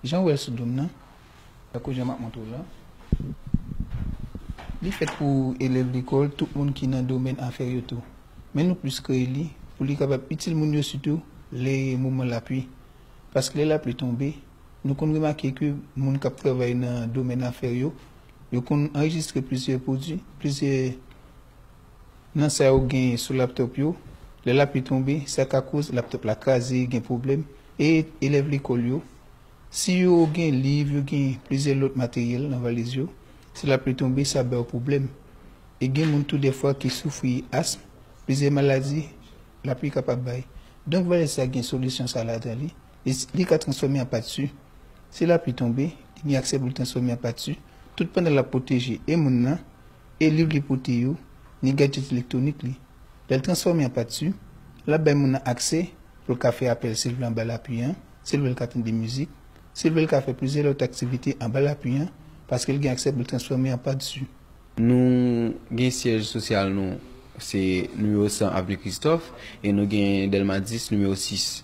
Jan ou wè l sou do m nan, tankou jan m ap montre w la, li fèt pou elèv lekòl, tout moun ki nan domèn afè yo tou. Men nou plis kreye li pou li kapab itil moun yo sitou lè moman lapli. Paske lè lapli tonbe, nou konn remake ke moun k ap travay nan domèn afè yo, yo konn anrejistre plizyè pwodui, plizyè. nan sa yo genyen sou laptop yo, lè lapli tonbe sa ka koz laptop la kraze, gen pwoblèm, e elèv lekòl yo, si yo gen liv, yo gen plizyè lòt materyèl nan valiz yo, si lapli tonbe sa ba yo pwoblèm, e gen moun tou dèfwa ki soufri asm, plizyè maladi lapli kapab bay. Donk valiz sa gen solisyon sa ladan li, e li ka transfòme an pati, si lapli tonbe, li gen aksè pou l transfòme an pati, tout pandan l ap pwoteje e moun nan, E liv li pote yo, ni gadjèt elektwonik li. Lè l transfòme an pati, l ap bay moun nan aksè pou l ka fè apèl si l vle anba lapui an, si l vle l ka tande mizik, si l vle l ka fè plizyè lòt aktivite anba lapui an paske l gen aksè pou l transfòme an pati. Nou gen syèj sosyal nou se nimewo 100 avni Kristòf e nou gen Dèlma 10 nimewo 6.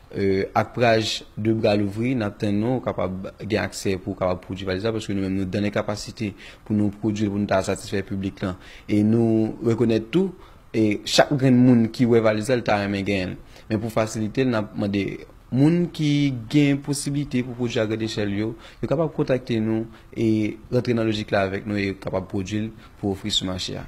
Ak praj 2 bra louvri, n ap tann nou, ou kapab gen aksè pou ou kapab pwodui valiz la, paske nou menm nou dan lè kapasite pou nou pwodui l pou nou ta satisfè piblik lan. E nou rekonèt tou, chak grenn moun ki wè valiz la, li ta renmen genyen l. Men pou fasilite l, n ap mande moun ki gen posiblite pou pwodui a grande echelle yo, yo kapab kontakte nou e rantre nan lojik la avèk nou e kapab pwodui l pou ofri sou mache a.